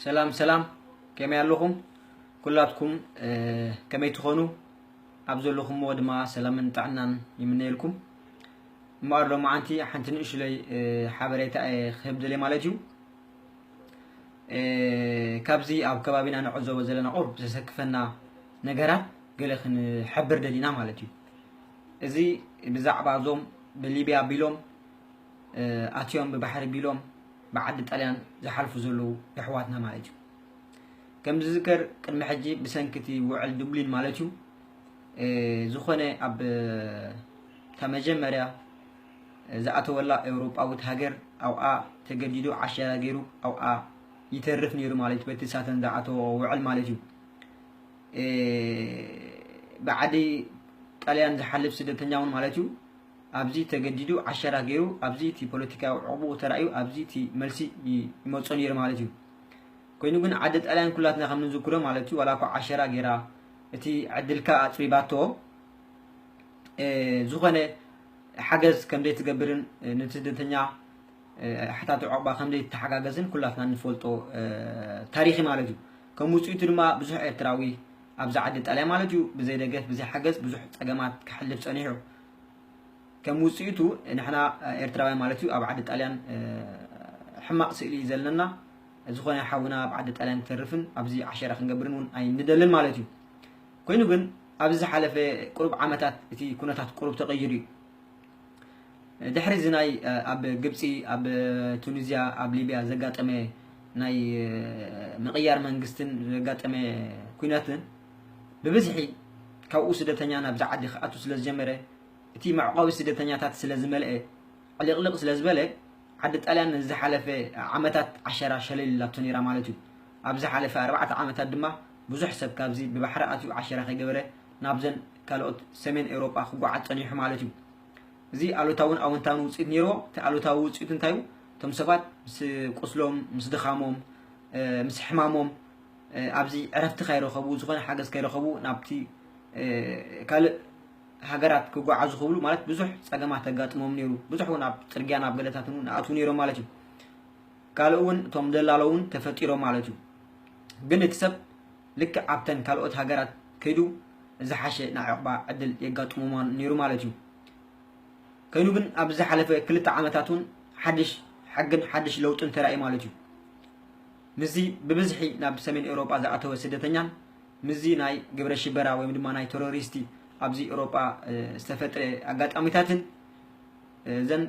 ሰላም ሰላም ከመይ ኣለኹም ኩላትኩም ከመይ ትኾኑ ኣብ ዘለኹምዎ ድማ ሰላምን ጥዕናን ይምነየልኩም እምበኣር ሎማዓንቲ ሓንቲ ንእሽለይ ሓበሬታ እየ ክህብ ደልየ ማለት እዩ ካብዚ ኣብ ከባቢና ንዕዘቦ ዘለና ቁርብ ዘሰክፈና ነገራት ገለ ክንሕብር ደሊና ማለት እዩ እዚ ብዛዕባ እዞም ብሊብያ ኣቢሎም ኣትዮም ብባሕሪ ቢሎም ብዓዲ ጣልያን ዝሓልፉ ዘለዉ የሕዋትና ማለት እዩ ከም ዝዝከር ቅድሚ ሕጂ ብሰንኪ እቲ ውዕል ዱብሊን ማለት እዩ ዝኾነ ኣብ እታ መጀመርያ ዝኣተወላ ኤውሮጳዊት ሃገር ኣብኣ ተገዲዱ ዓሸራ ገይሩ ኣብኣ ይተርፍ ነይሩ ማለት በቲ ሳተን ዝኣተዎ ውዕል ማለት እዩ ብዓዲ ጣልያን ዝሓልፍ ስደተኛ እውን ማለት እዩ ኣብዚ ተገዲዱ ዓሸራ ገይሩ ኣብዚ እቲ ፖለቲካዊ ዑቕብኡ ተራእዩ ኣብዚ እቲ መልሲ ይመጾ ነይሩ ማለት እዩ። ኮይኑ ግን ዓዲ ጣልያን ኩላትና ከም ንዝክሮ ማለት እዩ ዋላ እኳ ዓሸራ ገይራ እቲ ዕድልካ ኣጽቢባቶ ዝኾነ ሓገዝ ከም ዘይትገብርን ንስደተኛ ሓታቲ ዑቕባ ከም ዘይተሓጋገዝን ኩላትና ንፈልጦ ታሪኽ ማለት እዩ። ከም ውጽኢቱ ድማ ብዙሕ ኤርትራዊ ኣብዚ ዓዲ ጣልያን ማለት እዩ ብዘይ ደገፍ ብዘይ ሓገዝ ብዙሕ ጸገማት ከሕልፍ ጸኒሑ። ከም ውፅኢቱ ንሕና ኤርትራውያን ማለት እዩ ኣብ ዓዲ ጣልያን ሕማቕ ስእሊ እዩ ዘለና ዝኾነ ሓውና ኣብ ዓዲ ጣልያን ክተርፍን ኣብዚ ዓሸራ ክንገብርን እውን ኣይንደልን ማለት እዩ ኮይኑ ግን ኣብዚ ዝሓለፈ ቁሩብ ዓመታት እቲ ኩነታት ቁሩብ ተቐይሩ እዩ ድሕሪ እዚ ናይ ኣብ ግብፂ ኣብ ቱኒዝያ ኣብ ሊብያ ዘጋጠመ ናይ ምቕያር መንግስትን ዘጋጠመ ኩነትን ብብዝሒ ካብኡ ስደተኛ ናብዚ ዓዲ ክኣቱ ስለዝጀመረ፣ እቲ መዕቆቢ ስደተኛታት ስለዝመልኤ፣ ዕሊቕሊቕ ስለዝበለ፣ ዓዲ ጣልያን ንዝሓለፈ ዓመታት ዓሸራ ሸለል ኢላቶ ነይራ ማለት እዩ። ኣብ ዝሓለፈ ኣርባዕተ ዓመታት ድማ ብዙሕ ሰብ ካብዚ ብባሕሪ ኣትዩ ዓሸራ ከይገበረ ናብዘን ካልኦት ሰሜን ኤውሮጳ ክጓዓዝ ጸኒሑ ማለት እዩ። እዚ ኣሉታውን ኣወንታውን ውጽኢት ነይርዎ። እቲ ኣሉታዊ ውጽኢቱ እንታይ እዩ? እቶም ሰባት ምስ ቁስሎም፣ ምስ ድኻሞም፣ ምስ ሕማሞም፣ ኣብዚ ዕረፍቲ ከይረኸቡ ዝኾነ ሓገዝ ከይረኸቡ ናብቲ ካልእ ሃገራት ክጓዓዙ ክብሉ ማለት ብዙሕ ፀገማት ተጋጥሞም ነይሩ ብዙሕ እውን ኣብ ፅርግያ ናብ ገለታት እውን ኣእትው ነይሮም ማለት እዩ ካልእ እውን እቶም ደላሎ እውን ተፈጢሮም ማለት እዩ ግን እቲ ሰብ ልክዕ ኣብተን ካልኦት ሃገራት ከይዱ ዝሓሸ ናይ ዕቕባ ዕድል የጋጥሞ ነይሩ ማለት እዩ ከይኑ ግን ኣብዚ ዝሓለፈ ክልተ ዓመታት እውን ሓድሽ ሕግን ሓድሽ ለውጥን ተራእዩ ማለት እዩ ምስዚ ብብዝሒ ናብ ሰሜን ኤውሮጳ ዝኣተወ ስደተኛን ምስዚ ናይ ግብረ ሽበራ ወይም ድማ ናይ ተሮሪስቲ ኣብዚ ኤውሮጳ ዝተፈጥረ ኣጋጣሚታትን እዘን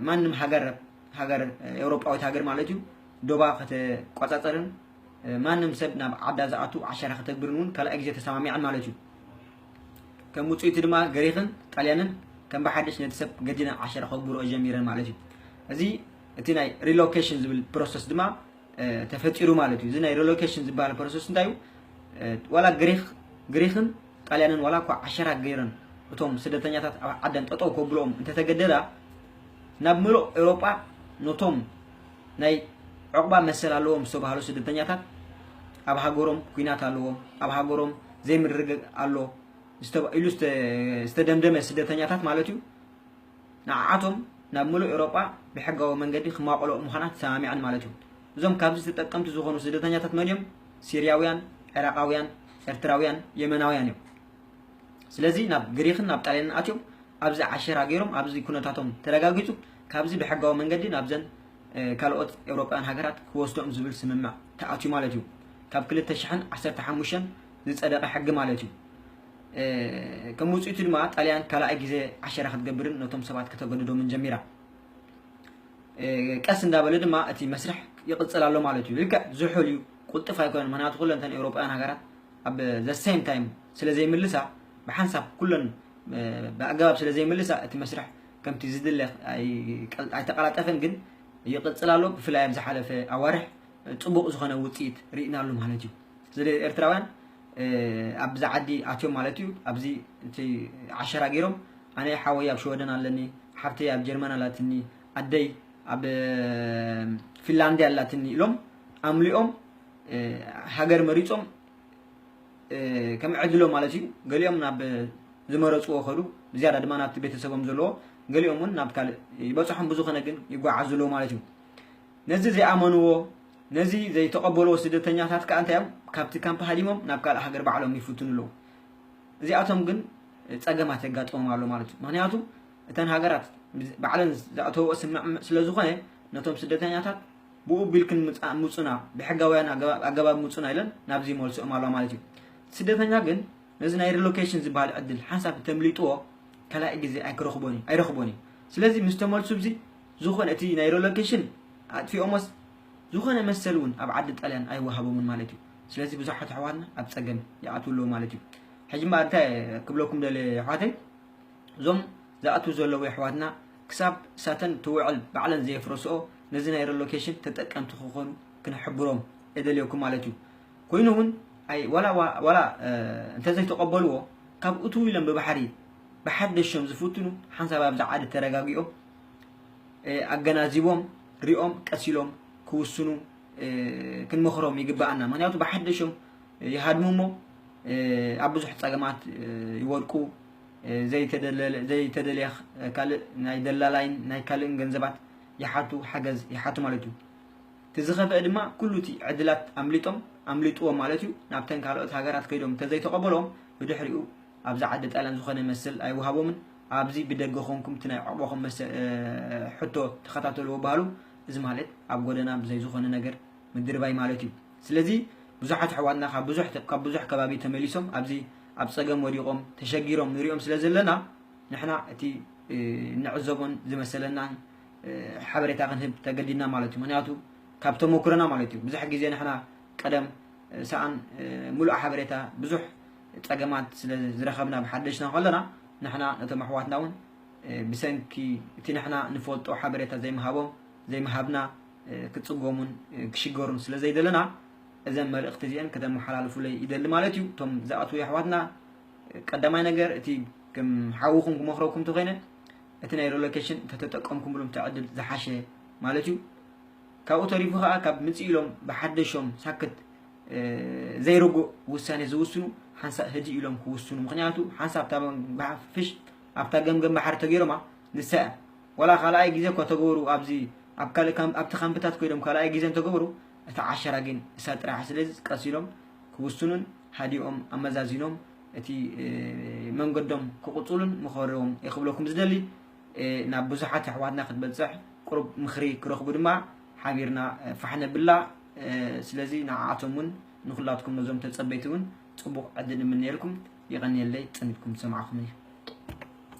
ማንም ሃገር ሃገር ኤውሮጳዊት ሃገር ማለት እዩ ዶባ ከተቋጻጸርን ማንም ሰብ ናብ ዓዳ ዝኣቱ ዓሸራ ከተግብርን እውን ካልኣይ ግዜ ተሰማሚዐን ማለት እዩ ከም ውፅኢቱ ድማ ግሪክን ጣልያንን ከም ብሓድሽ ነቲ ሰብ ገዲና ዓሸራ ከግብርኦ ጀሚረን ማለት እዩ እዚ እቲ ናይ ሪሎኬሽን ዝብል ፕሮሰስ ድማ ተፈጢሩ ማለት እዩ እዚ ናይ ሪሎኬሽን ዝበሃል ፕሮሰስ እንታይ እዩ ዋላ ግሪክ ግሪክን ጣልያንን ዋላ እኳ ዓሸራ ገይረን እቶም ስደተኛታት ኣብ ዓደን ጠጠው ከብልኦም እንተተገደዳ ናብ ምሉእ ኤውሮጳ ነቶም ናይ ዕቑባ መሰል ኣለዎም ዝተባህሉ ስደተኛታት ኣብ ሃገሮም ኩናት ኣለዎም ኣብ ሃገሮም ዘይምርግግ ኣሎ ኢሉ ዝተደምደመ ስደተኛታት ማለት እዩ ንዓዓቶም ናብ ምሉእ ኤውሮጳ ብሕጋዊ መንገዲ ክማቐልኦ ምዃና ተሰማሚዐን ማለት እዩ። እዞም ካብዚ ተጠቀምቲ ዝኾኑ ስደተኛታት መን እዮም? ሲርያውያን፣ ዒራቓውያን፣ ኤርትራውያን፣ የመናውያን እዮም። ስለዚ ናብ ግሪኽን ናብ ጣልያንን ኣትዮም ኣብዚ ዓሸራ ገይሮም ኣብዚ ኩነታቶም ተረጋጊጹ ካብዚ ብሕጋዊ መንገዲ ናብዘን ካልኦት ኤውሮጳውያን ሃገራት ክወስዶም ዝብል ስምምዕ ተኣትዩ ማለት እዩ። ካብ ክልተ ሽሕን ዓሰርተ ሓሙሽተን ዝጸደቐ ሕጊ ማለት እዩ። ከም ውጽኢቱ ድማ ጣልያን ካልኣይ ግዜ ዓሸራ ክትገብርን ነቶም ሰባት ከተገድዶምን ጀሚራ። ቀስ እንዳበለ ድማ እቲ መስርሕ ይቕጽል ኣሎ ማለት እዩ። ልክዕ ዝሑል እዩ፣ ቁልጡፍ ኣይኮነን፣ ምክንያቱ ኩለን እተን ኤውሮጳውያን ሃገራት ኣብ ዘ ሴም ታይም ስለ ዘይምልሳ ብሓንሳብ ኩለን ብኣገባብ ስለ ዘይምልሳ እቲ መስርሕ ከምቲ ዝድለ ኣይተቀላጠፈን፣ ግን ይቕጽል ኣሎ። ብፍላይ ኣብ ዝሓለፈ ኣዋርሕ ጽቡቕ ዝኾነ ውጽኢት ርኢናሉ ማለት እዩ። ስለዚ ኤርትራውያን ኣብዛ ዓዲ ኣትዮም ማለት እዩ ኣብዚ እቲ ዓሸራ ገይሮም ኣነ ሓወይ ኣብ ሸወደን ኣለኒ ሓፍተይ ኣብ ጀርመን ኣላትኒ ኣደይ ኣብ ፊንላንድያ ኣላትኒ ኢሎም ኣምሊኦም ሃገር መሪፆም ከም ዕድሎም ማለት እዩ ገሊኦም ናብ ዝመረፅዎ ከዱ ብዝያዳ ድማ ናብቲ ቤተሰቦም ዘለዎ ገሊኦም እውን ናብ ካልእ ይበፅሖም ብዝኾነ ግን ይጓዓዙ ኣለዉ ማለት እዩ ነዚ ዘይኣመንዎ ነዚ ዘይተቀበልዎ ስደተኛታት ከኣ እንታይ እዮም ካብቲ ካምፕ ሃዲሞም ናብ ካልእ ሃገር ባዕሎም ይፍትኑ ኣለዉ እዚኣቶም ግን ጸገማት የጋጥሞም ኣሎ ማለት እዩ ምክንያቱ እተን ሃገራት ባዕለን ዝኣተወኦ ስምምዕ ስለ ዝኾነ ነቶም ስደተኛታት ብኡ ቢልክን ምጹና ብሕጋውያን ኣገባብ ምጹና ኢለን ናብዚ መልስኦም ኣለዋ ማለት እዩ ስደተኛ ግን ነዚ ናይ ሪሎኬሽን ዝበሃል ዕድል ሓንሳብ ተምሊጥዎ ካልኣይ ግዜ ኣይክረኽቦን እዩ ኣይረኽቦን እዩ ስለዚ ምስ ተመልሱ ብዚ ዝኾነ እቲ ናይ ረሎኬሽን ኣጥፊኦሞስ ዝኾነ መሰል እውን ኣብ ዓዲ ጣልያን ኣይወሃቦምን ማለት እዩ ስለዚ ብዙሓት ኣሕዋትና ኣብ ፀገም ይኣትው ኣለዉ ማለት እዩ ሕጂ እምበኣር እንታይ ክብለኩም ደለ ኣሕዋተይ እዞም ዝኣትው ዘለዉ ኣሕዋትና ክሳብ እሳተን ትውዕል ባዕለን ዘየፍረስኦ ነዚ ናይ ረሎኬሽን ተጠቀምቲ ክኾኑ ክንሕብሮም የደልየኩም ማለት እዩ ኮይኑ እውን ኣይ ዋላ ዋላ እንተዘይተቐበልዎ ካብ እትው ኢሎም ብባሕሪ ብሓደሾም ዝፍትኑ ሓንሳብ ኣብዚ ዓዲ ተረጋጊኦም ኣገናዚቦም ሪኦም ቀስ ኢሎም ክውስኑ ክንመኽሮም ይግባኣና ምክንያቱ ብሓደሾም ይሃድሙ እሞ ኣብ ብዙሕ ፀገማት ይወድቁ ዘይተደልያ ካልእ ናይ ደላላይን ናይ ካልእን ገንዘባት ይሓቱ ሓገዝ ይሓቱ ማለት እዩ እቲ ዝኸፍአ ድማ ኩሉ እቲ ዕድላት ኣምሊጦም ኣምሊጥዎም ማለት እዩ ናብተን ካልኦት ሃገራት ከይዶም እንተዘይተቐበሎም ብድሕሪኡ ኣብዛ ዓዲ ጣልያን ዝኾነ መስል ኣይወሃቦምን ኣብዚ ብደገ ኮንኩም እቲ ናይ ዑቕባኹም መሰ ሕቶ ተኸታተልዎ በሃሉ እዚ ማለት ኣብ ጎደና ብዘይ ዝኾነ ነገር ምድርባይ ማለት እዩ ስለዚ ብዙሓት ኣሕዋትና ካብ ብዙሕ ካብ ብዙሕ ከባቢ ተመሊሶም ኣብዚ ኣብ ጸገም ወዲቖም ተሸጊሮም ንሪኦም ስለ ዘለና ንሕና እቲ ንዕዘቦን ዝመሰለናን ሓበሬታ ክንህብ ተገዲድና ማለት እዩ ምክንያቱ ካብ ተመኩረና ማለት እዩ ብዙሕ ግዜ ንሕና ቀደም ሰኣን ምሉእ ሓበሬታ ብዙሕ ጸገማት ስለ ዝረኸብና ብሓደሽና ከሎና ንሕና ነቶም ኣሕዋትና እውን ብሰንኪ እቲ ንሕና ንፈልጦ ሓበሬታ ዘይምሃቦም ዘይምሃብና ክጽገሙን ክሽገሩን ስለ ዘይደለና እዘን መልእኽቲ እዚአን ከተመሓላልፉለይ ይደሊ ማለት እዩ እቶም ዝኣትዉ ኣሕዋትና ቀዳማይ ነገር እቲ ከም ሓውኹም ክመኽረኩም ተኮይነ እቲ ናይ ሪሎኬሽን ተተጠቀምኩምሎም ትዕድል ዝሓሸ ማለት እዩ ካብኡ ተሪፉ ከዓ ካብ ምፅእ ኢሎም ብሓደሾም ሳክት ዘይርጉእ ውሳኔ ዝውስኑ ሓንሳእ ህድእ ኢሎም ክውስኑ ምክንያቱ ሓንሳብ እታ ባሕሪ ፍሽ ኣብታ ገምገም ባሕሪ ተገይሮማ ንሳ እያ ወላ ካልኣይ ግዜ እኳ ተገበሩ ኣብዚ ኣብ ካልእ ኣብቲ ካምፕታት ኮይዶም ካልኣይ ግዜ እንተገበሩ እቲ ዓሸራ ግን እሳ ጥራሕ ስለዚ ቀስ ኢሎም ክውስኑን ሃዲኦም ኣመዛዚኖም እቲ መንገዶም ክቕፅሉን ምኸርዎም ክብለኩም ዝደሊ ናብ ብዙሓት ኣሕዋትና ክትበፅሕ ቁሩብ ምኽሪ ክረኽቡ ድማ ሓቢርና ፋሕ ነብላ ስለዚ ንዓኣቶም ውን ንኩላትኩም ነዞም ተጸበይቲ ውን ጽቡቅ ዕድል ንምነየልኩም የቀንየለይ ጸኒትኩም ዝሰማዕኩምኒ።